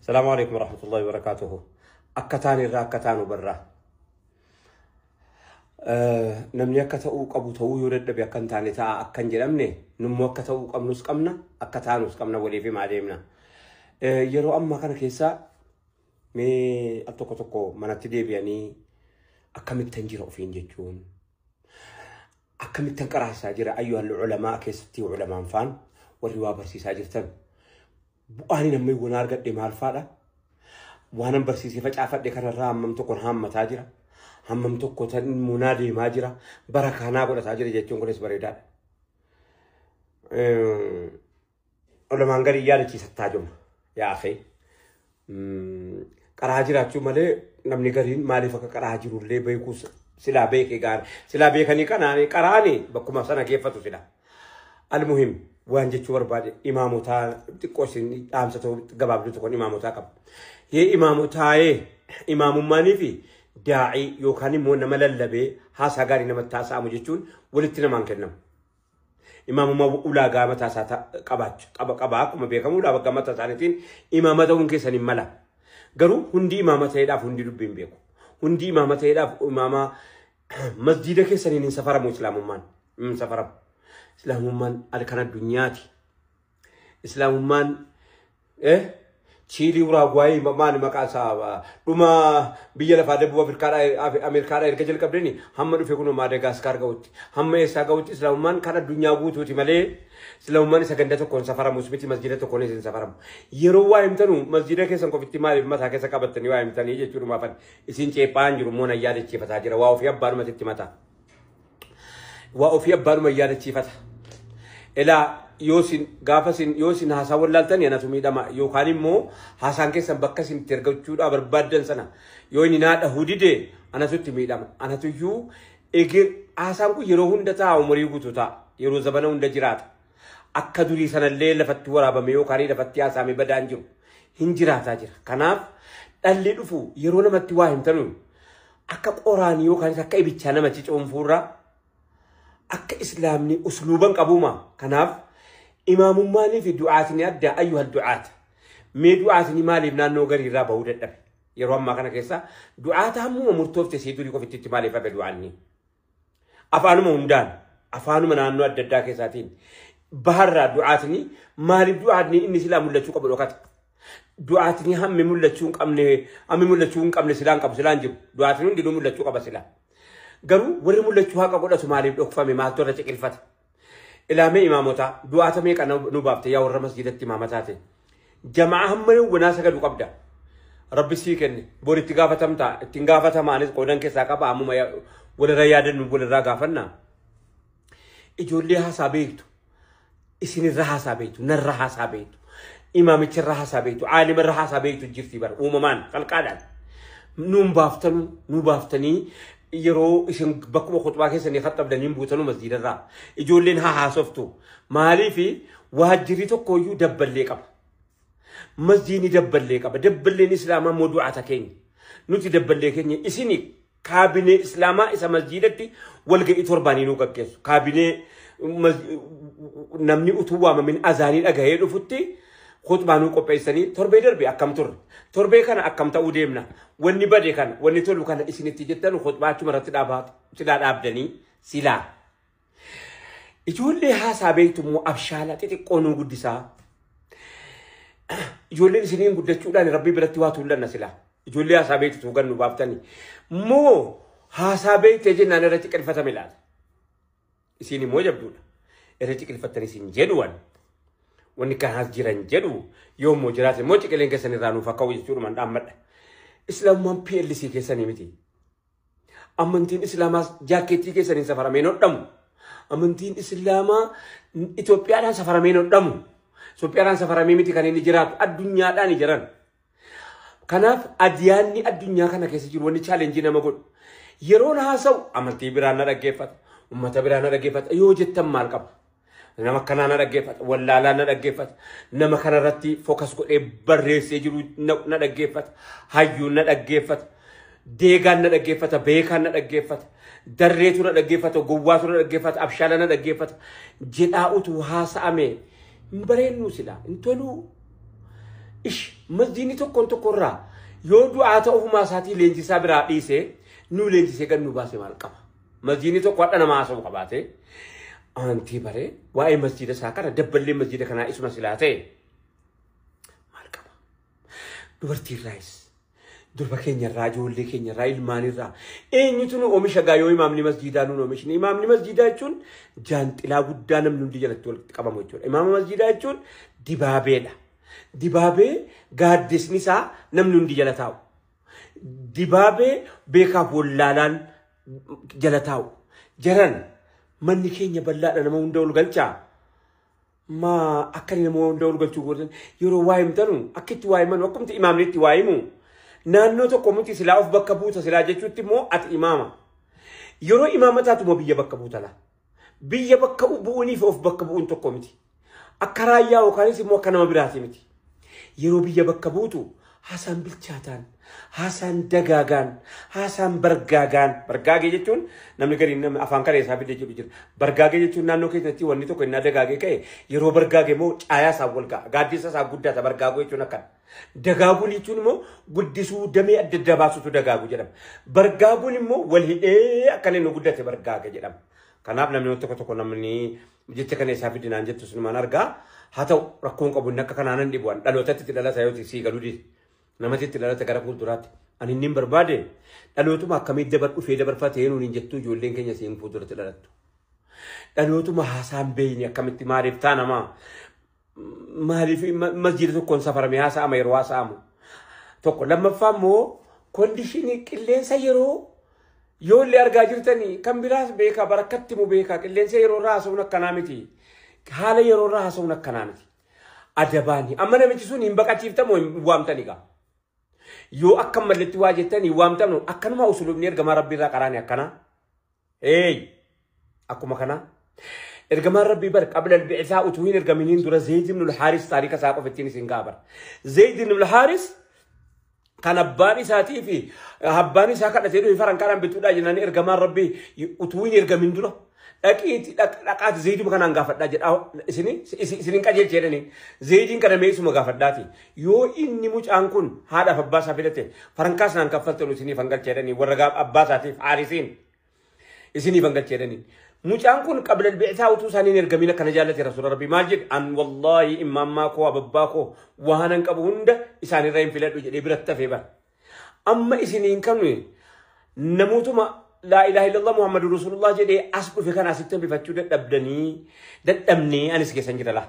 Salaamu alaikum warahmatullahi wabarakatuhu. Akka taan irraa akka taanu barraa. Namni akka ta'uu qabu ta'uu yoo dadhabe akka hin taane ta'a akka hin jedhamne nummoo akka ta'uu qabnus qabna akka taanus qabna waliif himaa deemna. Yeroo ammaa kana keessa mee al tokko tokko manatti deebi'anii akkamittan jira ofiin jechuun akkamittan qaraasaa jira ayyuhal ulamaa keessatti ulamaan faan warri waa barsiisaa jirtan bu'aan namni waan argadhe maal faadha waanan barsiisee facaafadhe kanarraa hammam tokkon haammataa jira hammam tokko tan munaa deemaa jira bara kaanaa godhataa jira jechuun kunis bareedaadha. Ulamaan gadi yaadachiisa taajuma. Yaa akhi. Qaraa jiraachuu malee namni gariin maaliif akka qaraa jirullee beekuu silaa beekee gaara. Silaa beekanii kanaan qaraani bakkuma sana geeffatu fida. Almuhim waan jechuu barbaade imaamotaa xiqqoo isin dhaamsa ta'u gabaabduu tokkoon imaamotaa qaba. Yee imaamotaa'ee imaamummaanii fi daa'ii yookaan immoo nama lallabee haasaa gaarii namatti haasa'amu jechuun walitti namaan kennamu. Imaamuma ulaagaa mataa isaa ta- qabaacha qaba qaba akkuma beekamu ulaagaa mataa isaaniitiin imaama ta'uun keessan hin mala. Garuu hundi imaama ta'eedhaaf hundi dubbii hin beeku. Hundi imaama ta'eedhaaf imaama masjiida keessaniin hin safaramu islaamummaan. Hin safaramu. Islaamummaan al- kan addunyaati. Islaamummaan eh, Chiilii Uraagwaayii ma- maali maqaan isaa ah, dhuma biyya lafaa Debub Afrikaadhaa Af- Ameerikaadhaa erga jalqabdeni hamma dhufe kunoo Maadagaaskaar ga'utti hamma eessaa ga'utti Islaamummaan kan addunyaa guutuuti malee Islaamummaan isa ganda tokkoon safaramus miti masjiida tokkoon isin safaramu. Yeroo waa himtanu masjiida keessan qofitti maaliif mataa keessa qabattanii waa himtanii jechuudhumaafan isin ceephaan jiru immoo nan yaadachiifataa jira waa ofii abbaanumatti itti mataa. waa ofii abbaanuma yaadachiifata. Elaa yoo isin gaafa isin yoo isin haasaa wallaaltan anatu miidhama yookaan immoo haasaan keessan bakka isin itti ergachuudhaa barbaaddan sana yoo inni naa dhahuu dide anatu itti miidhama. Anatu iyyuu eger haasaan kun yeroo hunda ta'a umurii guutuu ta'a yeroo zabana hunda jiraata. Akka durii sanallee lafatti waraabame yookaan lafatti haasaamee badaan jiru hin jiraataa jira. Kanaaf dhalli dhufu yeroo namatti waa himtanu akka qoraan yookaanis akka ibichaa nama cicoonfuurraa akka islaamni usluuban qabuuma kanaaf imaamummaanii fi du'aatni adda ayyuha du'aata mee du'aatni maaliif naannoo gariirraa bahuu dadhabe yeroo ammaa kana keessa du'aata hammuma murtoofte sii durii qofitti maaliif hafe du'aanni afaanuma hundaan afaanuma naannoo adda addaa keessaatiin baharraa du'aatni maaliif du'aatni inni silaa mul'achuu qabu dhokata. Du'aatni hammi mul'achuu hin qabne hammi mul'achuu hin qabne silaan qabu silaan jiru du'aatni hundinuu mul'achuu qaba silaa. Garuu warri mul'achuu haqa godhatu maaliif dhokfame maaltu irra ciqilfate Ilaamee imaamotaa du'aata meeqa nu baafte yaa warra masjidatti imaama taate. Jamaa hamma yoo wanaa sagadu qabda. Rabbi sii kenne bor itti gaafatamta ittiin gaafatamaanis qoodan keessaa qaba ammuma walirra yaadannu walirraa gaafanna. Ijoollee haasaa beektu isinirra haasaa beektu narra haasaa beektu imaamicharra haasaa beektu aalimarra haasaa beektu jirti bara uumamaan qalqaadhaan. Nuun baaftanu nu baaftanii yeroo isin bakkuma khutbaa keessanii khattabdan hin buutanu masjiidarraa ijoolleen haa haasoftu maaliif waajjirri tokkooyyuu dabballee qaba masjiidni dabballee qaba dabballeen islaamaa immoo du'aata keenya nuti dabballee keenya isini kaabinee islaamaa isa masjiidatti walga'ii torbaanii nu gaggeessu kaabinee mas- namni utuu waamamin azaanii dhagahee dhufutti Khutbaa nuu qopheessanii torbee darbe akkam turre? Torbee kana akkam ta'uu deemna? Wanni bade kana, wanni tolu kana isin itti jettanu khutbaa achuma irratti dhaabaa silaa dhaabdanii silaa. Ijoollee haasaa beektu immoo abshaala xixiqqoo nuu guddisaa. Ijoolleen isiniin guddachuudhaan rabbii biratti waa tuullanna silaa. Ijoollee haasaa beektu tuugan nu baaftanii. Moo haasaa beektee jennaan irratti qirfatame laata? Isiin immoo jabduudha. Irra ciqilfattanii isin jedhu waan. Wanni kan haas jiran jedhu yoo immoo jiraate immoo ciqileen keessan irraa nuuf akka jechuudhumaan dhaammadha. Islaamummaan PLC keessanii miti. Amantiin Islaamaas jaakkeettii keessaniin safaramee nodhamu. Amantiin Islaamaa Itoophiyaadhaan safaramee nodhamu. Itoophiyaadhaan safaramee miti kan inni jiraatu addunyaadhaan jiran. Kanaaf adiyaanni addunyaa kana keessa jiru wanni chaalenjii nama godhu. Yeroon haasa'u amantii biraa na dhaggeeffata. Uummata biraa na dhaggeeffata. Yoo jettan maal qaba? Nama kanaa na dhaggeeffata. Wallaalaa na dhaggeeffata. Nama kanarratti fokas godhee barreessee jiru na dhaggeeffata. Hayyuun na dhaggeeffata. Deegaan na dhaggeeffata. Beekaan na dhaggeeffata. Darreetu na dhaggeeffata. Gowwaatu na dhaggeeffata. Abshaala na dhaggeeffata. Jedhaa utuu haasa'ame hin bareennu silaa hin toluu. Ish masjiinni tokkoon tokkorraa yoo du'aa ta'u ofumaa isaatii leenjisaa biraa dhiise nuu leenjisee gad nu baase maal qaba. Masjiinni tokko hadha nama haasa'u qabaate aantii baree waa'ee masjiida isaa kana dabballee masjiida kanaa isuma silaa ta'e maal qaba. Dubartiirraayis Durba keenya irraa, ijoollee keenya irraa, ilmaan irraa. Eenyutu nu omisha gaa yoo imaamni masjiidaa nuun omishne. Imaamni masjiidaa jechuun jaanxilaa guddaa namni hundi jalatti walitti qabamu jechuudha. Imaama masjiidaa jechuun dibaabeedha. Dibaabee gaaddisni isaa namni hundi jala taa'u. Dibaabee beekaaf wallaalaan jala taa'u. Jaran manni keenya bal'aadha nama hunda ol galchaa. ma akka inni nama hunda ol galchuu godhan yeroo waa himtanu akka itti waa himanu akkumti imaamni itti waa himu naannoo tokko miti silaa of bakka buuta silaa jechuutti immoo ati imaama yeroo imaama taatuma biyya bakka buuta laa biyya bakka bu'uunii fi of bakka bu'uun tokko miti akka raayyaa yookaanis immoo akka nama biraati miti. Yeroo biyya bakka buutu haasaan bilchaataan, haasaan dagaagaan, haasaan bargaagaan, bargaagee jechuun namni gariin namni afaan kalee isaa fidee jedhu jira. Bargaagee jechuun naannoo keessatti wanni tokko innaa dagaagee ka'e yeroo bargaage immoo caayaa isaa wal ga'a. Gaaddisa isaa guddaa isa bargaaguu jechuun akkana. Dagaaguun jechuun immoo guddisuu damee adda addaa baasutu dagaagu jedhama. Bargaaguun immoo wal hidhee akkana inni guddate bargaaga jedhama. Kanaaf namni tokko tokko namni Jecha kana isaa fidi naan jettu sinumaan argaa. Haa ta'u rakkoon qabu inni akka kanaa nan dhibu an dhalootatti itti dhalata yoo sii galuu dide. Namatti itti dhalata gara fuulduraatti. Ani inni hin barbaade dhalootuma akkamii dabar dhufee dabarfate eenuun hin jettu ijoolleen keenya siin fuulduratti dhalattu. Dhalootuma haasaan beeyni akkamitti maaliif taa namaa maaliif masjiida tokkoon safarame haasa'ama yeroo haasa'amu tokko lammaffaa immoo kondishinii qilleensa yeroo yoo illee argaa jirtanii kan biraas beekaa barakkatti mu beekaa qilleensa yeroo irraa haasa'uun akkanaa miti haala yeroo irraa haasa'uun akkanaa miti adabaani amma namichi sun hin baqachiiftamu hin waamtani gaa yoo akka malletti waa jettanii waamtamnu akkanuma usulubni ergamaa rabbii irraa qaraani akkanaa Eey! Akkuma kanaa. Ergamaan Rabbii bar qabla albi'isaa utuu hin ergaminiin dura Zeyd ibn al-Haaris taarika isaa qofa ittiin isin ga'a bar. Zeyd ibn al-Haaris kan abbaan isaatii fi abbaan isaa kadhatee dhufe faran kanaan bituudhaa jennaan ergamaan Rabbii utuu hin ergamin dura. Dhaqiiti dhaqaati Zeyduma kanaan gaafadhaa jedhaa isini isinin qajeelcha jedhanii Zeydiin kana meesuma gaafadhaati. Yoo inni mucaan kun haadhaaf abbaa isaa filate farankaa sanaan kaffaltan isiniif hangalcha jedhanii warra gaaf abbaa isaatiif haarisiin isiniif hangalcha jedhanii. Mucaan kun qabla bi'saa utuu isaanii hin ergamin akkana jaallate rasuula rabbii maal jedhe an wallaahi immaammaa koo ababbaa koo waanan qabu hunda isaanirra hin filadhu jedhee biratti hafee bara. Amma isiniin kan namootuma laa ilaaha illallah muhammadu rasuulullah jedhee as dhufe kana asitti hambifachuu dadhabdanii dadhabnee anis keessan jira laa.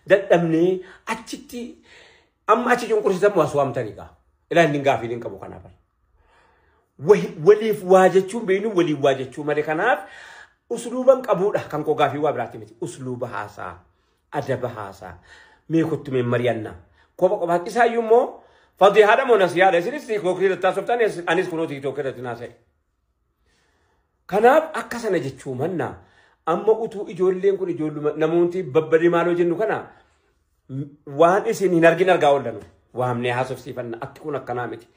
dadhabnee achitti amma achi cunqursitan waa suwaamtanii gaa. Ilaa inni gaafii hin qabu kanaaf. Waliif waa jechuun beeknu waliif waa jechuu malee kanaaf usluuban qabuudha kan koo gaafii waa biraatti miti. Usluuba haasaa, adaba haasaa, mee kottu mee mari'anna. Kopha kophaatti isaayyuu immoo fadii haadha moo nasiyaadha isinis tiiktookii irratti haasoftan anis kunoo tiiktookii irratti naasa'e. Kanaaf akka sana jechuu manna amma utuu ijoolleen kun ijoolluma namooti babbadee maaloo jennu kana waan isin hin argin argaa oollan waamnee haasofsiifanna atti kun akkanaa miti.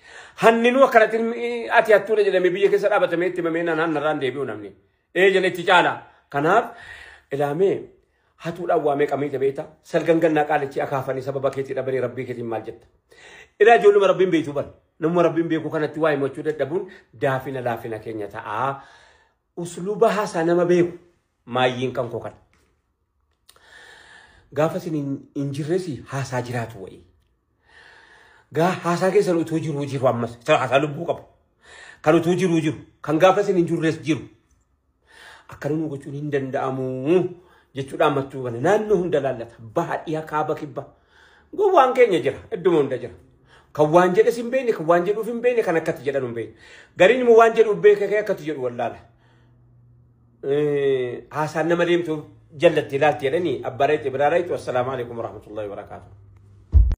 Hanninuu akkanatti ati hattuudha jedhamee biyya keessa dhaabatamee itti mamee naan hannarraan deebi'u namni. Ee jedhe itti caala. Kanaaf ilaamee hatuudhaan waa meeqa miite beekta salgan gannaa qaalichi akaafanii sababa keetii dhabanii rabbii keetiin maal jetta ilaa ijoolluma rabbiin beektu bar namuma rabbiin beeku kanatti waa himachuu dadhabuun daafina laafina keenya ta'a usluuba haasaa nama beeku maayyiin kan koo kana gaafa isin hin jirresi haasaa jiraatu wayii Gaa haasaa keessan utuu jiruu jiru ammas isa haasaa lubbuu qabu. Kan utuu jiruu jiru kan gaafa isin hin jirres jiru. Akkana nu gochuun hin danda'amu jechuudha ammatti hubanne naannoo hunda laallata baha dhiha kaaba kibba. Gowwaan keenya jira idduma hunda jira. Kan waan jedhes hin beekne kan waan jedhuuf hin beekne kan akkatti jedhan hin beekne. Gariin immoo waan jedhuuf beekee kee akkatti jedhu wallaala. Eh, Haasaan nama deemtu jallatti ilaalti jedhanii abbaa rayxi biraa rayxu assalaamu alaikum warahmatullahi wabarakaatuh.